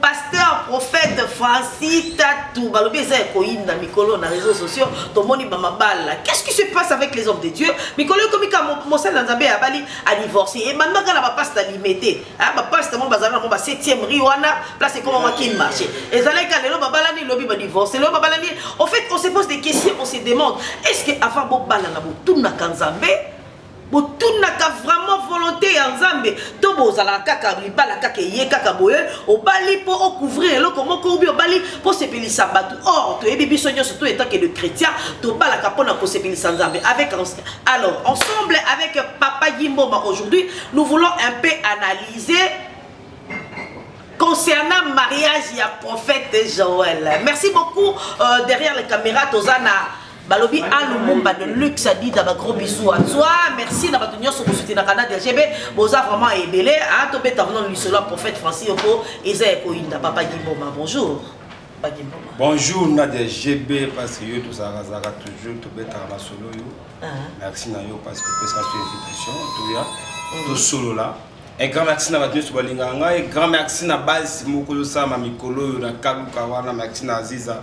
pasteur prophète francis tatu balobi eza ya koyinda mikolo na réseaux sociaux tomoni bamabala qu'est ce qui se passe avec les hommes de dieu mikolo ekomi ka mosali na nzambe abali adivorce ebandaka na bapasta alime te bapasta mo bazalaka nango ba 7e ri wana place ekomama kin marché ezalaki ka lelo babalani lobi badivorce lelo babalani au fait on se pose des questions on se demande est ce que avant bobalana botunaka nzambe botunaka vraiment volonté ya nzambe to bozalaka kaka libala kaka eye kaka boye obali mpo ocouvrir eloko moko obi obali mpo osepelisa bato or toyebi biso nyonso to etanke de chrétien tobalaka mpo na kosepelisa nzambe avec alors ensemble avec papa gimbomba aujourd'hui nous voulons un peu analyser concernant mariage ya prophète joël merci beaucoup euh, derrière les caméras tozana balobi a lumumba de luxe adida ba gros bisous à toi merci na bato nyonso kosutenaka na dgb boza vraiment ebele a tobeta vno lisolo ya prophète francis yoko eza ya koyinda papa gimboma bonjour bonjour na dgb parce que yo tozalakazalaka toujours tobetaka masolo yo ah. merci na yo parce que opesaka so invitation toya mm. tosolola un grand merci na bato nyonso balingaka ngai grand merci na base moko yosalama mikolo oyo na kaluka wana merci na aziza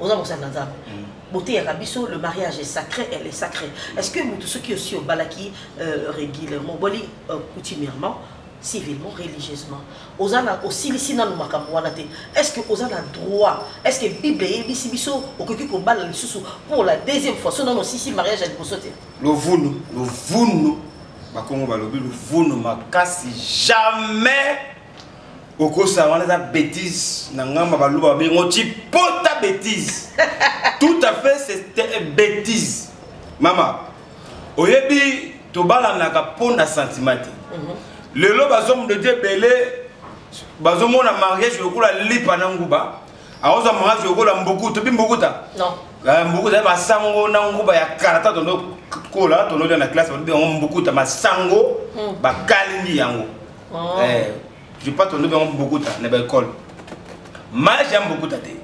oza mosali na nzambe boteyaka biso le mariage est sacré elle est sacrée est ce que motu soki osi obalaki euh, régulièrement oboli euh, coutumièrement civilement religieusement oza na osilisi nanu makambo wana te est ce que oza na droit est ce que bible eyebisi biso okoki kobala lisusu pour la deuxième fois so nanu osisi mariage ya liboso te lovunu lovunu bakongo balobi lovunu makasi jamais okosa wana eza bétise na ngamba baluba babengo cipota bétise tout à fait c'est bétise mama oyebi tobalanaka mpo na sentiment te mhm. lelo bazomdedi ebele bazomona mariage lokola lipa na nguba akozwa mariage lokola mbuku tobi mbukuta eh, mbukuta ya masango na nguba ya karata tondo kola tonolia na classe babi yango mbukuta masango hmm. bakalingi yango oh. eh, je pas tolobi yango bokuta na baekole mage ya bokuta te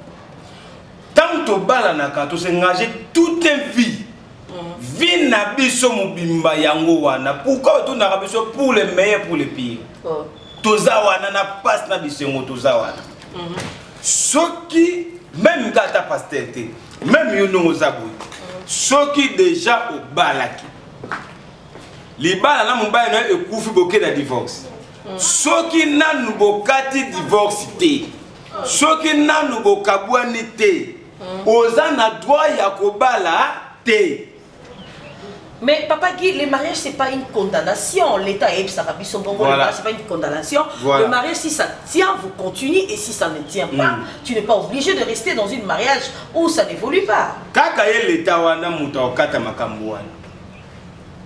ntango tobalanaka tosengage toute vie mm. vie na biso mobimba yango wana pourkui otondaka biso pour le meilleur pour le pire oh. toza wana na mpasi na bisengo toza wana mhm. soki meme nga ata paster te meme yo ndongo oza boye mhm. soki deja obalaki libala na mobali na yo ekufi boke na divorce mm. soki nanu bokati divorce te soki nanu bokabwani te mm. oza na droit ya kobala te Mais papa Guy, le mariage c'est pas une condamnation. L'État est ça biso bongo. Voilà. Le mariage c'est pas une condamnation. Voilà. Le mariage si ça tient, vous continuez et si ça ne tient pas, mm. tu n'es pas obligé de rester dans une mariage où ça n'évolue pas. Kaka l'État wana muta okata makambo wana.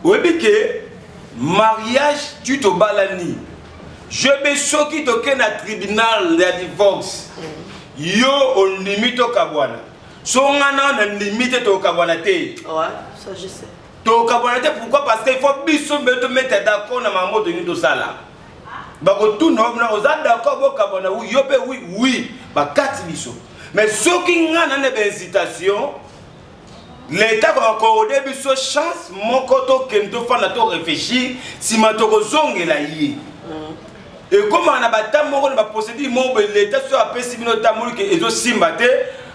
oyebi ke mariage tu tobalani jebe soki toke na tribunal ya divorce yo ondimi tokabwana so nga na na ndimi te tokabwana te tokabwana te pourquoi parce que il faut biso mbe tometa d'accord na makambo tolingi tosala bakotuna na oza d'accord bokabwana wi yo mpe wi wi bakati biso mais soki nga na na bainsitation leta koakorde biso chance moko tokende tofanda to réfléchir nsima tokozongela ye mm. ekomaka na bata moko na baprocédure moko boye leta soki apesi bino tamoli ke ezosimba te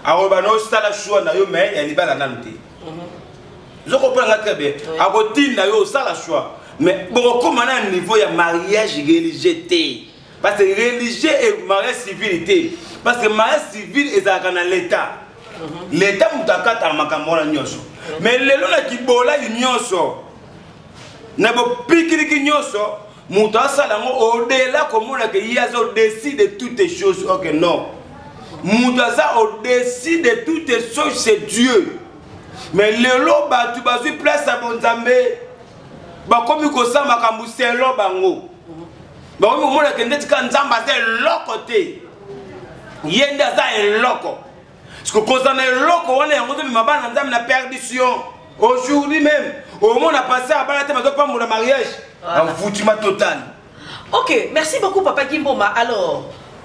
akoloba na osala shua na yo mai ya libala nanu te mm-hmm. ozokopona nga très bien akotinda yo osala shua mais bokokoma na niveau ya mariage religieux te parce que religieux et mariage civil te parce que mariage civil ezalaka na l'état mhm. l'état moto akataka makambo wana nyonso mais lelo na kibolai nyonso na bopikiliki nyonso moto asala yango odela komona ke ye aza odesi de toutes choses ok non moto aza odesi de toutes choses c'est dieu mais lelo bato bazwi place ya bonzambe bakomi kosala makambo selo bango bakomi komona ke ndeti kaka nzambe aza eloko te ye nde aza eloko siko kozala na eloko wana yango ozomema bana na nzambe na perdition aujourd'hui même omona pase ya bana te bazopambola mariage envoutiment total ok merci beaucoup papa kimboma alors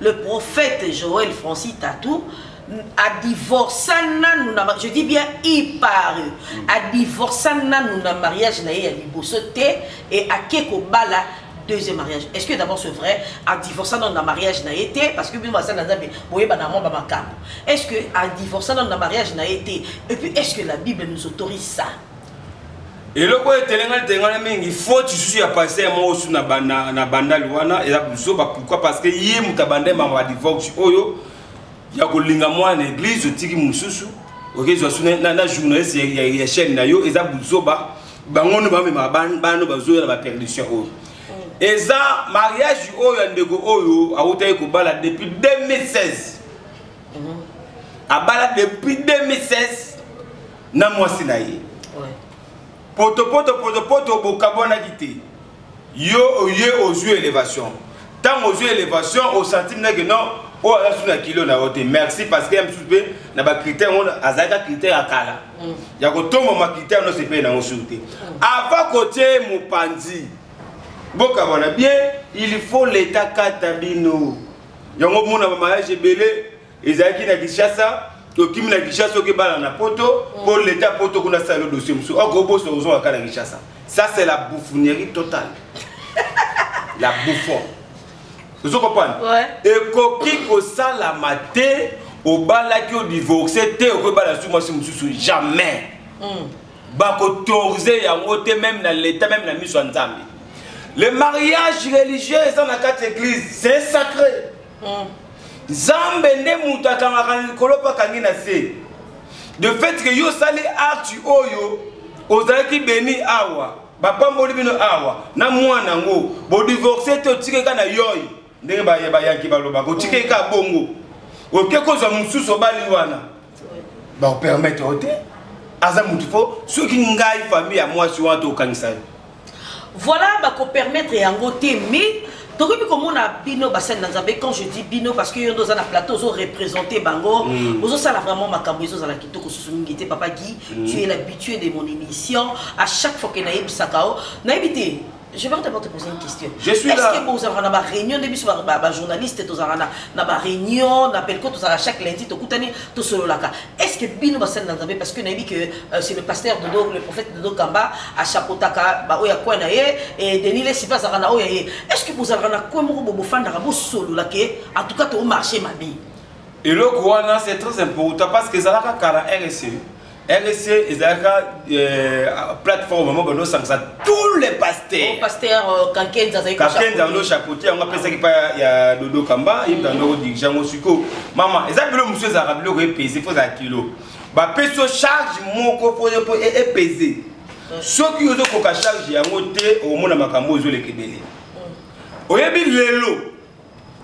le prophète Joël Francis Tatou a divorcé nanu na je dis bien il part a divorcé nanu na mariage na ye ya liboso te et ake kobala deuxième mariage est-ce que d'abord c'est vrai a divorcé nanu na mariage na ye te parce que bino basali na nzambe boyeba na mwa bamakambo est-ce que a divorcé nanu na mariage na ye te et puis est-ce que la bible nous autorise ça eloko oyo etelengani telengana mingi foti susu ya paster moko su na bandali wana eza buzoba pourkui parce que ye moto abandai mama badivox oyo ya kolinga mwana eglise otiki mosusu okezwa su na journaliste ya chaîne na yo eza buzoba bango nde bamema bano bazoya na baperdition oyo eza mariage oyo ya ndeko oyo awutaki kobala depuis 2016 mhm. abala depuis 2016 na mwasi na ye potopoto potopoto bokabwanaki te yo oye ozwi elevation ntango ozwi elevation osanti ndeke non oyo aza susu na kilo na yo te merci parce que ya mosusu mpe na bacritère ngo azalaka critère ya kala mm. ya kotombama critère nyonso epai nango susu te mm. avant kotie mopanzi bokabwana bien il faut leta kata bino yango omona bamariage ebele ezalaki na kinshasa tokimi na kinshasa oke bana na poto mpo mm. leta poto kuna sala dossier mosusu oko oh, obosa ozonga kaka na kinshasa ça c'est la bouffonnerie totale la bouffon ozo comprendre ekoki kosalama te obalaki odivorce te okoki bala su mwasi mosusu jamais mm. bakotorize yango te meme na leta meme na miso ya nzambe le mariage religieux eza na kati église c'est sacré mm. zambe nde moto akangaka na likolo mpe akangi na se de fait ke yo osali acte oyo ozalaki beni awa bapamboli bino awa na mwana yango bodivorce te otike ka na yoi ndenge bayanki balobaka otike ka bongo oke kozwa mosusu obali wana Ba permettre ote aza mutu fo soki ngai famille ya mwasi wana to okangisa yo. Voilà ba ko permettre yango te mais tokoki komona bino basali na nzambe quand je dis bino parce que yo nde oza na plateau ozo représente bango mm. ozosala vraiment makambo ezozala kitoko susu mingi te papa gi mm. tu es l'habitué de mon émission à chaque fois ke nayebisaka o nayebi te Je vais d'abord te poser une question. Je suis Est-ce là. Est-ce que vous avez une réunion de biso ba journaliste tous arana na ba réunion na pelko tous arana chaque lundi to kutani to solo laka. Est-ce que bino ba sel nzambe parce que na dit que euh, c'est le pasteur de Dodo le prophète de Dodo Kamba a chapeautaka ba oya kwa na ye et Denis les sipa arana oya ye. Est-ce que vous avez na kwa moko bobo fanda bo solo laka en tout cas to marché ma vie. Et le quoi c'est très important parce que ça la kara RSE. RSC ezalaka euh, plateforme moko bando osangisa tous les pasteurs. Oh, pasteur euh, Kankenza azali Kankenza ndo chapeautier yango apesaki pa ya Dodo Kamba ye mpe ndo dirigent ngo siko. Mama eza bilo mosusu ezalaka biloko epese fo ezala kilo. Bapesi yo charge moko mpo mpo e, epese. Mm. Soki ozokoka charge yango te okomona makambo oyo ezoleka ebele. Mm. Oyebi lelo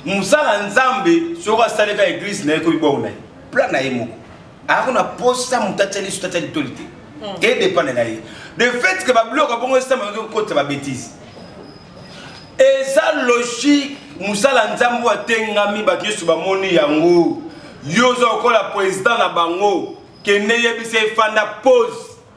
mosala Nzambe soki asaleka eglise na ye ekomi bongo na ye plan na ye moko. ako na posa moto atya liso tatya litoli te hmm. edepende na ye de fait que babiloko ya bongo esama ozo kotisa babétise eza logique mosala nzambe atengami bato nyonso bamoni yango yo oza kokola président na bango kende yebisa efanda pose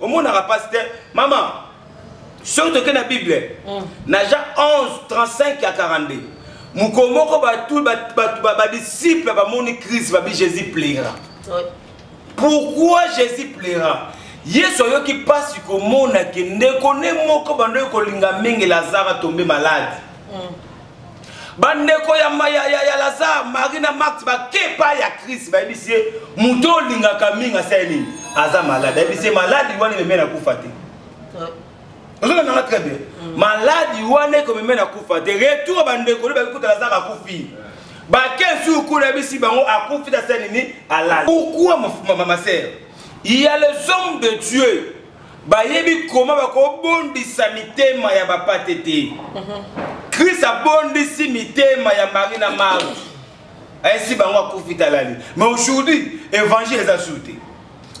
omonaka pasi te mama soki toke na bible mm. na jean 11 35 ya 42 mokolo moko bato badisiple bamoni crise babi jésus plaira pourquoi jésus plaira yesu ayoki mpasi komona ke ndeko nde moko bandoki kolinga mingi lazare atombe maladi mm. bandeko ya, ya, ya, ya lazare marie na marti bakepa ya krist bayebisi ye moto olingaka mingi asali nini aza malade ayebisi ye maladi wana ememe na kufa te ozolanganga très bien mm. maladi wana ekomeme na kufa te retour bandeko nde bakikuta lazare akufi bake nsuku kuna yebisi bango akufi tasali nini alali pourkui ma, ma, ma, ma sœur il y a les hommes de dieu bayebi koma bakobondisa mitema ya bapate te krist abondisi mitema ya mari na mari ayesi bango akufi talali mais aujourd'hui évangile eza sur te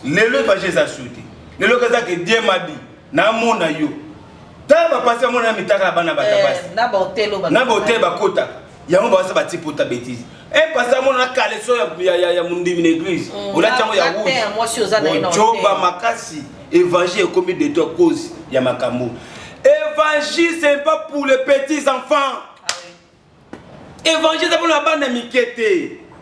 lelo évangile eza sur te lelo eza ke die mabi namona yo tala bapasi bamona na mitaka na bana batabasi eh, na baotele bakotaka yango bawasa bati pota betise e eh, pasa mona na kaleso ya mondimi na église mm. olati yango ya rougeocoba makasi évangile ekomi de toi cause ya makambo évangile c'est pas pour les petits enfants ah évangile eza mpona bana mike te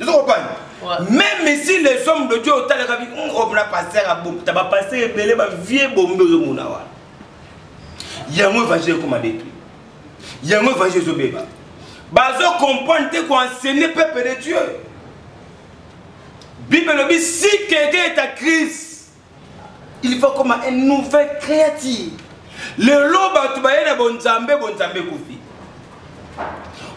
ezo kopani même si les hommes de dieu otalaka bi hmm, omona oh, pasteur abomta bapasteur ebele bavie bombe ozomona wana yango évangile ekoma detruit yango évangile ezobeba bazo comprendre te koenseigne peuple de dieu bible elobi si quelqu'un est à crise il faut comme une nouvelle créature lelo bato baye na bonzambe bonzambe ekufi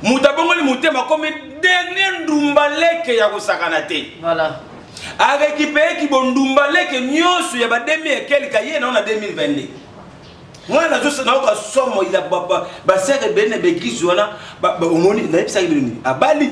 moto abongoli motema akomi dernier ndumba leke ya kosakana te voilà. arekipeeki bondumba leke nyonso ya bademi ekelika ye nao na 2022 ngai nazonayoka somo ya basere ebele na baeglise wana omoni nayebisaki bino nini abali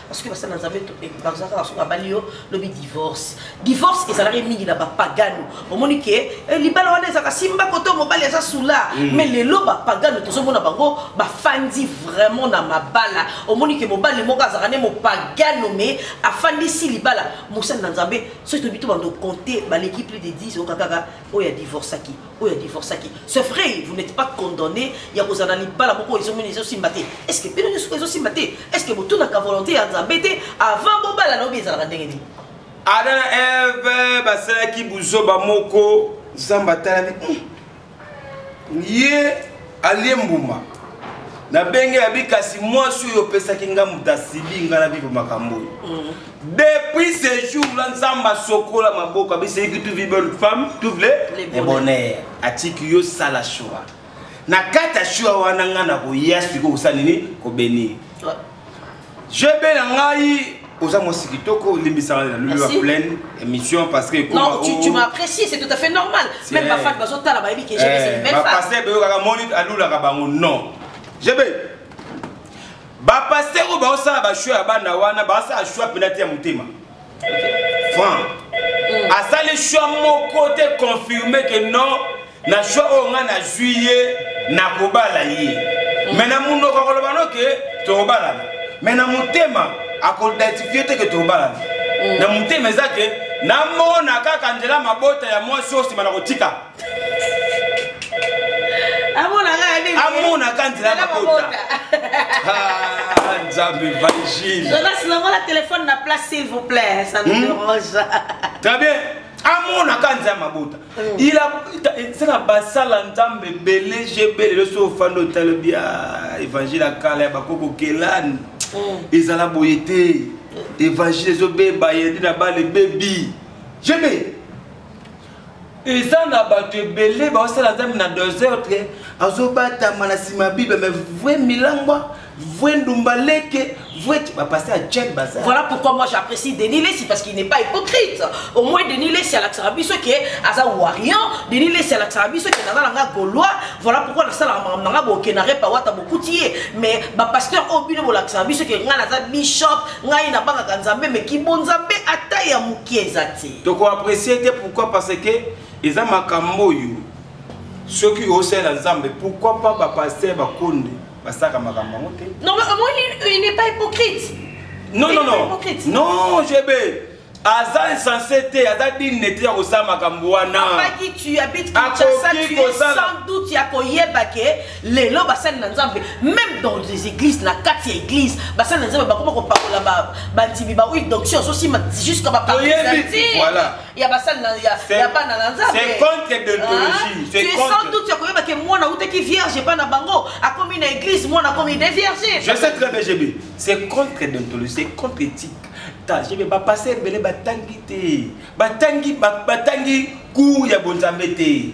soki basala na nzambe baza kaka soki abali yo lobi divorce divorce ezalaki mingi na bapagano omoni ke eh, libala wana ezalaka simba koto mobali aza sula mm. mais lelo bapagano tozomona bango bafandi vraiment na mabala omoni ke mobali moko azalaka nde mopagano mais afandisi libala mosali na nzambe soki tobi to bando compte baleki plus de 10 oyoka kaka oyo adivorcaki oyo adivorcaki ce vrai vous n'êtes pas condamné ya kozala na libala moko ezomini ezosimba te est ce que bino nyonso ezosimba te est ce que botunaka volonté ya nzambe te avant bobala na obi ezalaka ndenge nini ada na eve basalaki buzoba moko nzambe atalami hmm. ye alie mbuma nabenge yabi kasi mwasi oyo opesaki nga moto asibi nga na bibo makambo oyo hmm. Depuis ce jour là, Nzambe asokola maboko abiseyiki tu vis bonne femme, tu voulais le bonheur. Atiki yo sala shua. Na kati ya shua wana nga na koya siko kosala nini kobenir. Je be na ngai oza mwasi kitoko olimbisaka na lulu ya pleine émission parce que non tu, tu m'apprécies c'est tout à fait normal même bafani bazotala bayebi que jebe c'est une belle femme bapaster beyokaka moni alulaka bango non jebe ba pasteur oyo baosala bashow ya bana wana basala show mpena te ya motema franc mm. asali show moko te confirme ke non na show oyo ngai nazwi ye nakobala ye mm. me na monoko akoloba no ke tokobalana me na motema akoidentifie te ke tokobalana mm. na motema eza ke namona kaka nzela mabota ya mwasi oyo nsima na kotika amonaka nzela bakota nzambe evangileonasinangola telefone na place s'il vous plaît ça nous hmm? dérange très bien amonaka nzela mabota ezaka hmm. basala nzambe ebele jebe lelo so ofandi otala bia évangile ya kala ya bakoko kelani hmm. ezala boye te évangile ezobeba yende na bale bebi jebe eza na bato ebele baosala nzambe na desordre azobatama na nsima bible mais vrai milangwa vrai ndumba leke vrai bapaster ya chen baza voilà pourquoi moi j'apprécie denis lesi parce qu'il n'est pas hypocrite au moins denis lesi alakisaka biso ke aza warriant denis lesi alakisaka biso ke naza na nga gaulois voilà pourquoi nasalaka makambo na nga boke na repa wata bokuti ye mais bapaster oyo bino bolakisaka biso ke ngai naza bishop ngai nabangaka nzambe mais kibonzambe ata ya moke eza te toko apprécier te pourquoi parce que eza makambo oyo soki osalela nzambe pourquoi pas bapaster bakonde basaka makambo yango te non mais omoni il n'est pas hypocrite non non non non jb aza insensé te aza digne te ya kosala makambo wana akoki kosala sans doute ya koyeba ke lelo basali na nzambe meme dans les églises na kati ya église basali na nzambe bakoma kopakola bandimi baoyi donction ozosima jusqu'à bapartisati ya basali ya bana na nzambe sans doute ya koyeba ke mwana autaki vierge epai na bango akomi na église mwana akomi de vierge je sais très bien gb c'est contre dentologie c'est contre éthique tajebe bapase ebele batangi te batangi batangi cour ya bonzambe te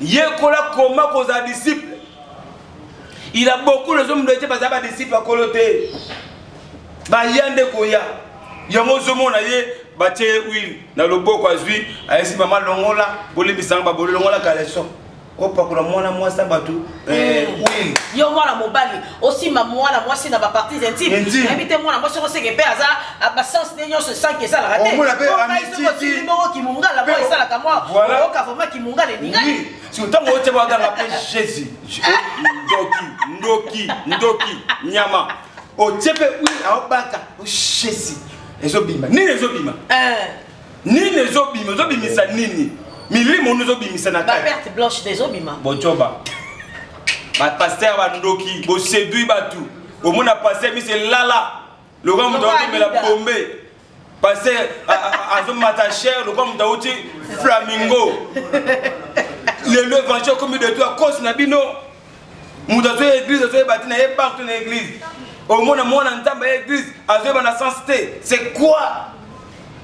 yekola koma kozala disciple il a beaucoup les hommes doite baza badisciple ya kolo te baya nde koya yango ozomona ye batie ye huile na loboko azwi ayesi mama longola bolimbisanga babolo longola kaleso opakola mwana mwasi ya bato Eh, hmm. oui. yo mwana mobali osimba mwana mwasi na baparties intime nayebi te mwana mwasi okoseke mpe aza basense nde nyonso esanki esalaka teokimongo kimongala mpo esalaka mwa oyoka vraimen kimongala elingani ntango otie baganga mpe jésus ndoki ndoki ndoki nyama otie mpe wi aobaka jésus ezobima nini ezobima eh. nini ezobima ezobimisa nini milimo ono ezobimisa na perte blanche ezobima bocoba bapaster bandoki bosedui bato omona paster biso elala lokola moto aotomela bombe paster azomata cher lokola moto auti flamingo lelo evangile okomi de to akosi na bino moto azwi ya eglise azoyeba ntina ye partout na eglise omona mwana nzambe ya eglise azoyeba na sens te c'est quoi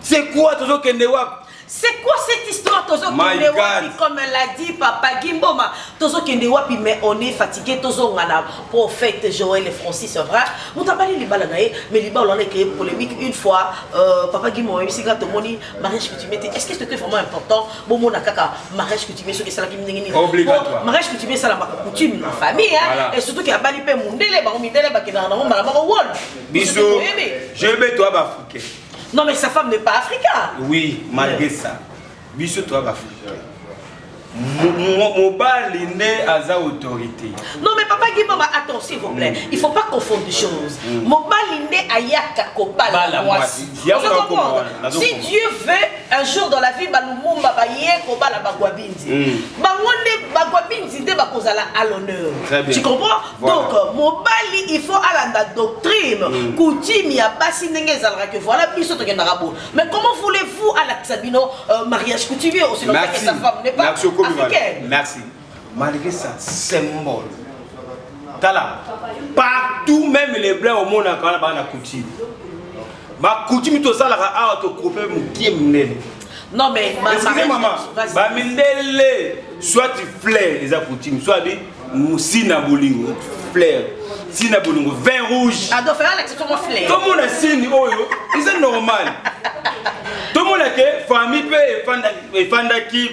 c'est quoi tozokende wapi C'est quoi cette histoire Tozo kende wapi comme l'a dit papa Gimboma Tozo kende wapi mais on est fatigué Tozo ngana prophète Joël et Francis c'est vrai Moutabali libala nae mais libala on a créé polémique une fois euh, papa Gimboma ici quand moni mariage que tu mettais est-ce que c'était vraiment important bomona kaka mariage coutumier soki esalaki ndenge nini mariage coutumier esalamaka coutume na famille hein? et surtout ke abali mpe mundele bango mindele bakendaka nango mbala moko wol biso jebe to baafricain non mais sa femme n'est pas africain oui malgré ça biso to baafricain mobali nde aza autorité non mais papa gimama attends s'il vous plaît mm. il faut pas confondre choses mm. mobali nde ayaka kobala mwasi si dieu veut un jour dans la vie balumumba baye kobala bagwabinzi hmm. bango nde bagwabinzi nde bakozala à l'honneur tu comprends donc euh, mobali il faut alanda doctrine hmm. coutume ya basi ndenge ezalaka que voilà biso tokendaka bo mais comment voulez-vous alakisa bino euh, mariage coutumier osilokakesa femme n'est pas africaine malgré ça symbole tala partout même les blancs omonaka wana baa na coutume bacoutume tosalaka awa tokoupe mokie monene non mais excusez maman bamindele soit flair eza coutume soit bi sina bolingo flair sina bolingo vin rouge tomona sini oyo eza normal tomona ke famille mpe efandaki efandaki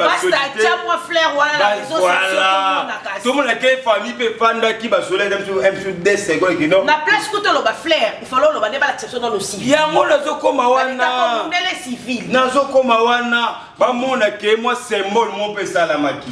tomona ke famille mpe efandaki basolaki biso de seconde kino na place kuta oloba flair ifalo oloba nde balakisa biso nano civil yango nazokoma wana nazokoma wana bamona ke mwa symbole mo mpe esalamaki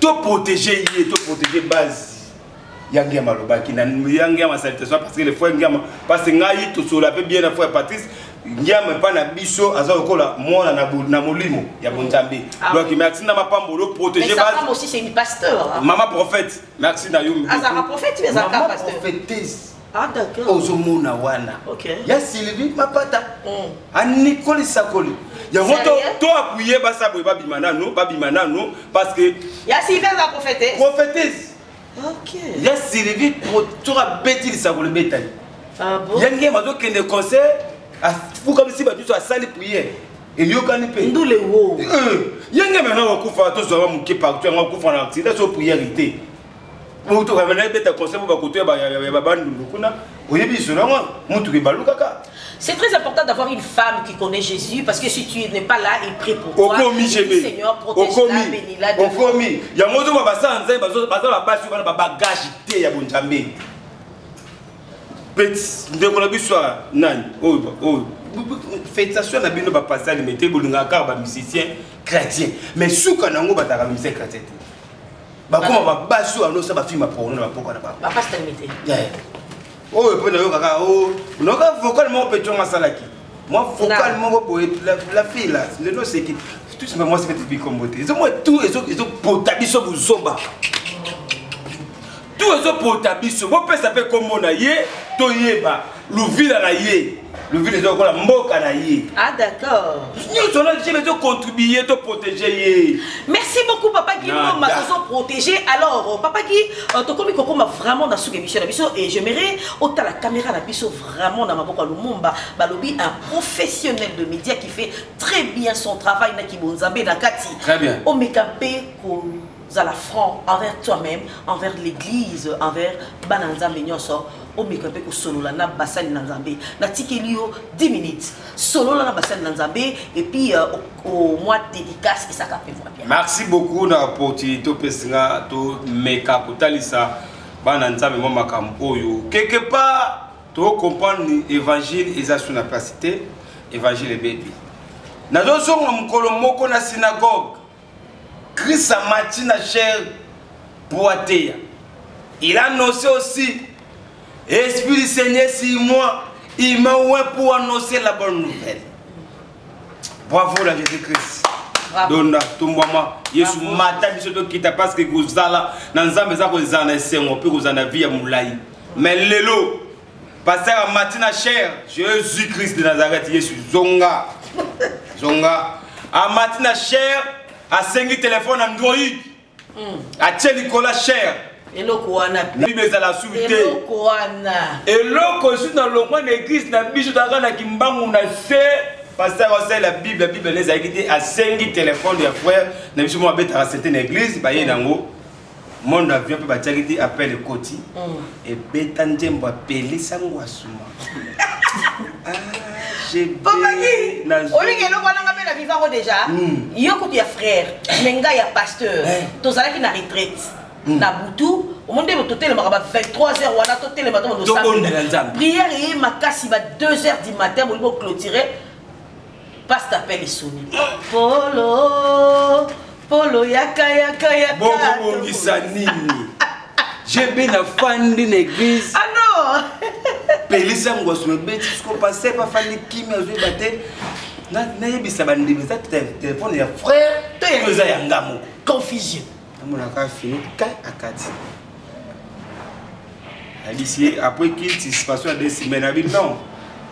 To protéger ye, to protéger base. yange ya malobaki na yange ya masalitation parce que le frère ngiama parce que ngai tosola mpe bien na frère patrice ngiama epai na biso aza lokola mwana na molimo ya bonzambe ah donc merci na mapambolo protégé mama prophète merci na yo mama prophétise Ah, ozo mona wana okay. ya sylvie mapata mm. anikoli sakoli yango to apuye basa boye babima nano babima nano parce que ya sylvie aza prophétese prophétese okay. ya sylvie to abeti lisakoli betani ah, bon? ya ngema azokende concert afukamisi bato nyonso asali priere eyokani mpe ndule wo eh, ye ngema yango akufa tozwaka moke partout yango akufa na accident so priere te moto bamana ebeta conseil mpo bakutu ya babandundu kuna oyebi lisolo yango motuka ebalukaka C'est très important d'avoir une femme qui connaît Jésus parce que si tu n'es pas là, il prie pour toi. Okomi Jésus. Seigneur, protège-la, bénis-la. Okomi. Il y a un moment où baza nzai bazo bazo la base sur ba bagage te ya bonjambe. Petit ndeko na biso nani? Oh oh. Félicitations na bino ba pasteur limete bolinga kaka ba musicien chrétien. Mais suka nango bataka musicien chrétien. bakoma babasi oyo anosa bafilme ya porno na bapoka na bango bapasta mite oyo mpe nayokaka oh, noka vocal moko mpe tongo asalaki mwa vocal moko boye la fille la lelo oseki tout simple mwasi mpe tibikombo te ezomoi tout ezopota biso bozomba tout ezopota biso bopesa mpe nkombo na ye toyeba luvila na ye luvila eza lokola mboka na ye ah d'accord nyonso na jebe ezocontribue to protege ye merci beaucoup papa gi moma tozoprotege alors euh, papa gi euh, tokomi kokoma vraiment na suka émission na biso et j'aimerais otala caméra na biso vraiment na maboko ya lumumba balobi un professionnel de média qui fait très bien son travail na kibonzambe na kati omeka mpe ko zala franc envers toi-même envers l'église envers bana na nzambe nyonso omeka mpe kosolola na basali na nzambe natikeli yo 10 minutes solola na basali na nzambe epuis euh, au mois dédicace esaka mpe voa bien merci beaucoup na opportunité opesi nga tomeka kotalisa bana nzambe mwa makambo oyo quelque part tocomprendre évangile eza sur na place te évangile ebebi nazozonga mokolo moko na synagogue Chris amati na chair mpo ateya. Il a annoncé aussi Esprit du Seigneur sur moi, il m'a oint pour annoncer la bonne nouvelle. Bravo la Jésus-Christ. donda tombwama yesu mata biso tokita parce que kozala na nzambe eza kozala na esengo mpe kozala na vie ya molai mais lelo Pasteur amati na chair Jésus Christ de Nazareth Yesu zonga zonga amati na chair asengi telefone android hmm. atie likolo chair eloko wana bible ezala suki te eloko wana eloko esusu na longwa na eglise na biso tozalaka na kimbangu na se pasteur asalela bible bible ezalaki te asengi telefone ya frère na biso moko abetaka sete na eglise baye nango monde avion mpe batiaki ti appel ekoti mm. ebeta nzembo apelisa ngwasuma olingi eloko wana nga mpe na vivango déjà mm. yo kutu ya frère me ngai ya pasteur eh. tozalaki na retraite mm. na butu omoni nde totelemaka ba 23 heures wana totelema to prière eye makasi ba 2 heures du matin bolingi boclotire Pasta appelle Sony. Polo, Polo yaka yaka yaka. Bongo bongisa nini? JB na fandi na église. Ah non. Pelisa ngwasu ebeti siko passer pa fandi kimi azoyeba te. Nayebisa bandimi eza telefone ya frère to eza ya nga moko. Confusion. amonaka fini ka akati alisi après qu'il satisfaction ya deux semaines abi non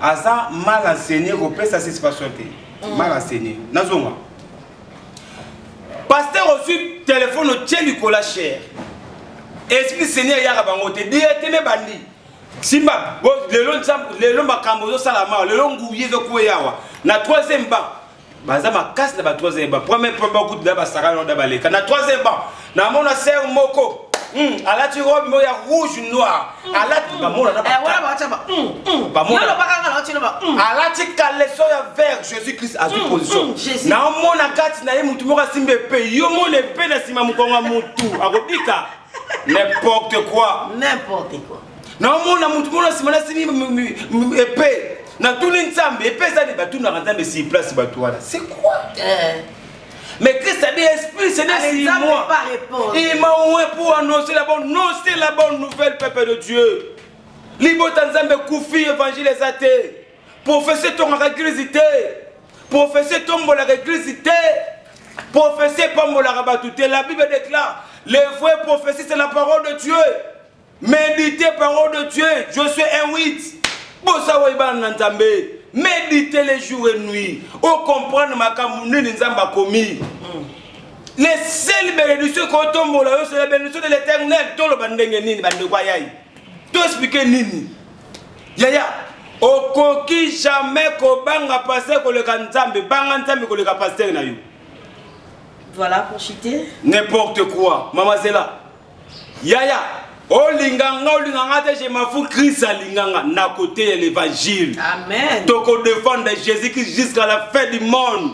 aza mal enseigné kopesa satisfaction te mm. mal enseigné nazonga pasteur ozwi telefone otye likolo ya chere esprit seigneur eyaka bango te dieteme bandi simba lelo makambo ezosala mawa lelo nguye ezokueyawa na troisième banc baza makasi na ba 3 ba premier premier ba groupe na ba saka na ba leka na 3 ba na mona sœur moko hmm, alati robe moko ya rouge noir hmm. alati ba mona na ba eh, wala ba taba hmm, ba mona ba kanga na tino ba alati caleçon ya vert Jésus Christ a su position na mona kati na ye mutu moko simbe pe yo mona pe na sima mukonga mutu akobika n'importe quoi n'importe quoi naomona motu mona nsima nasimi epe natuni nzambe epe eza nde batunaka nzambe si place bato wana c'est quoi eh. Mais Christ a dit, Esprit, c'est n'est pas moi. Il m'a oué pour annoncer la bonne, non, c'est la bonne nouvelle, peuple de Dieu. Libo Tanzambe Koufi, évangile athées. Professeur ton réglizité. Professeur ton la réglizité. Professeur Pambola Rabatouté. La Bible déclare, les vrais prophéties, c'est la parole de Dieu. Méditez parole de Dieu, Josué 1, 8. Bosa wayibana na Nzambe. Méditez les jours et nuit. O comprendre makambo nini Nzambe akomi. Les seules bénédictions ko tombola yo c'est la bénédiction de l'éternel. Toloba ndenge nini bande kwa yayi. To expliquer nini. Yaya, okoki jamais kobanga pasteur koleka Nzambe, banga Nzambe koleka pasteur na yo. Voilà pour chiter. N'importe quoi. Maman Zela. yaya olinga nga olinga nga te je mafu christ alinga nga na kote ya l'évangile tokodefendre jésus christ jusqu'à la fin du monde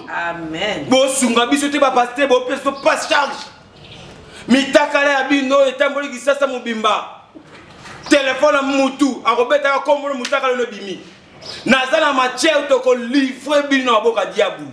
bosunga biso te bapaster bopesa to pas charge mitakala ya bino oyo etamboli kisasa mobimba telefone ya mutu akobetaka kombolo motakala no ebimi naza na matière tokolivre bino na maboka diabulu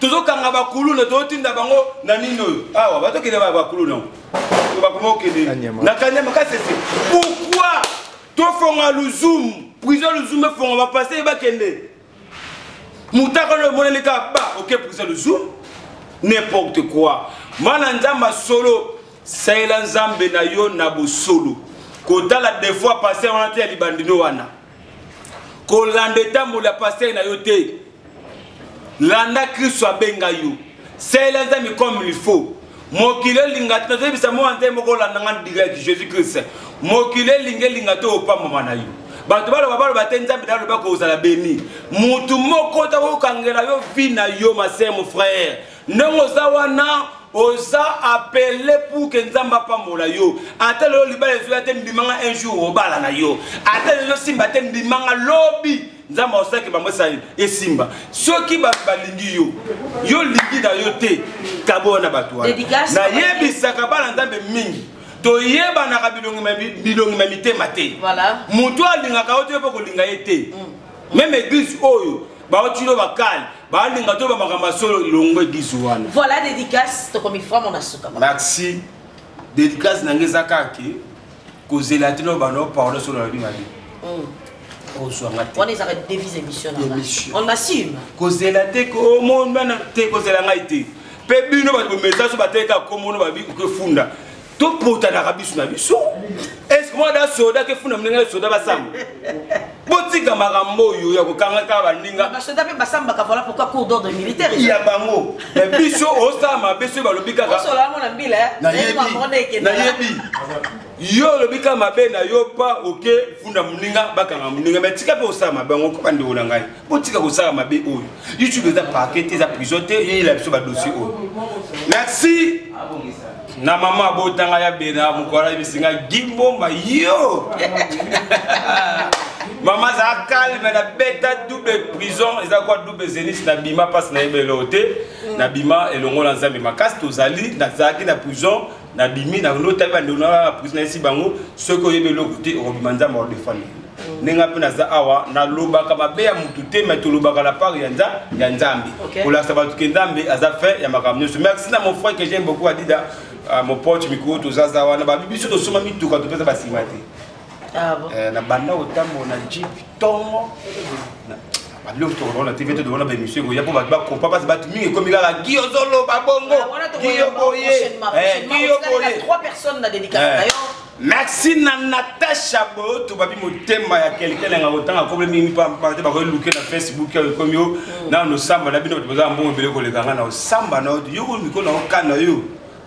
tozokanga bakuluna tozotinda bango na nini oyo awa batokende bakuluna bakuma okende na kanyama kasese pourkui tofonga luzumu prison luzumu efonga bapase ye bakende mutaka oyo emonani kaka ba oke prison luzumu n'importe quoi mwana nzambe asolo salela nzambe na yo na bosolo kotala defois passe wana te ya libandino wana kolanda etamboli ya pastere na yo te landa kristo abenga yo salela nzambe comme il faut mokili elinga te nazoyebisa mwa nzambe moko olanda nga direct jésus christ mokili elinga elinga te opambama na yo bato baloba baloba te nzambe na aloba kozala beni motu moko takokangela yo vi na yo masemo frère ndenge oza wana oza apele pour ke nzambe apambola yo ata lelo libala ezoya te ndimanga un jour obala na yo ata lelo simba te ndimanga lobi nzambe aosalaki bango esali esimba soki bato balingi yo yo lingi na yo te kaboya na bato wana nayebisaka bana nzambe mingi toyebanaka bilongi ma mitema te moto alingaka yo te yo mpe kolinga ye te mm. meme eglise oyo baotino bakali balinga to bamakambo ya solo longwe bizu wana voilà dédicace tokomi vraiment na suka merci dédicace na ngai eza kaka kozela tino bano parole solo alobi mabe ozwanga te wana ezaka devise émission on assume kozela te omona te kozela ngai te mpe bino bato bomesa so bateka komono babi okefunda topotanaka biso na biso eske mwana da soda ke funa moninga ya soda basamba botika makambo oyo ya kokanga kaka baninga basoda mpe basambaka vola pourkoi cour d'ordre militaire ya bango na biso osala mabe soki balobi kakanayebi yo olobi kaka mabe na yo pa oke funda moninga bakanga moninga me tika mpe osala mabe yango ko bandeko na ngai botika kosala mabe oyo youtube eza parke te eza prison te yeyela biso badossier oyo merci na mama abotanga ya bena mokolo ayebisi nga gimbomba yo mama azala calme na beta double prison eza kwa double zenis na bima mpasi nayeba eloko te na bima elongo na nzambe makasi tozali nazalaki na prison na bimi na no tabi bande na prison esi bango soki oyebi eloko te okobima nzambe wa defendre mm. ndenge mpe naza awa nalobaka mabe ya motu te mai tolobaka la part ya nza ya nzambe kolakisa bato ke nzambe aza fin ya makambo nyonso merci na mon frère que j'aime beaucoup adida ah, mon pote mikolo tozaza wana babi biso tosomba mituka topesa basima te Ah eh, na banda kotambola na jeep tongo babiloko tokolona te vete tokolona baémission ekoya mpo bato bakompa mpasi bato mingi ekomi kaka gi ozoloba bongo ah, gi yo boye eh, gi yo boye eh. merci na natacha boyoto babi motema ya kelkele nga kotanga akomi mingi mpampa te bakoki luke na facebook oyo ekomi yo mm. nano osamba na bino bato baza mbongo ebele koleka nga na osamba na yo yo komi ko na okana yo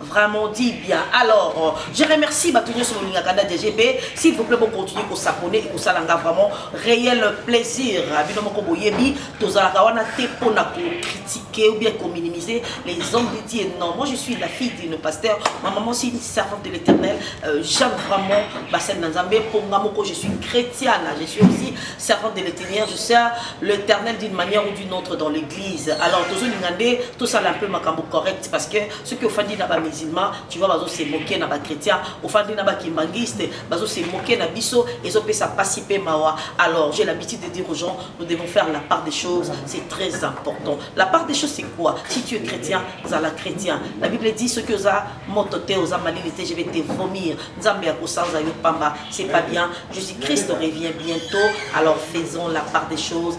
vraiment dit bien alors euh, je remercie bato nyonso bolingaka nda dgb s'il vous plaît bocontinue kosabone ekosala nga vraiment réel plaisir bino moko boyebi tozalaka wana te mpo na kocritiquer ou bien kominimiser les hommes de dieu non moi je suis la fille d'une pasteur ma maman c'est une servante de l'éternel euh, j'aime vraiment basene na nzambe mpo nga moko je suis chrétienne je suis aussi servante de l'éternel je sers l'éternel d'une manière ou d'une autre dans l'église alors tozolinga nde tosala un peu makambo correct parce que soki ofandi na bamusulman tu vois bazo se moke na bachrétien ofandi na bakimbanguiste bazo se moke na biso ezopesa mpasi mpe mawa alors j'ai l'habitude de dire aux gens nous devons faire la part des choses c'est très important la part des choses c'est quoi si tu es chrétien zala chrétien la bible dit soki oza moto te oza malili te je vais te vomir nzambe ya kosanza yo pamba c'est pas bien jésus christ revient bientôt alors faisons la part des choses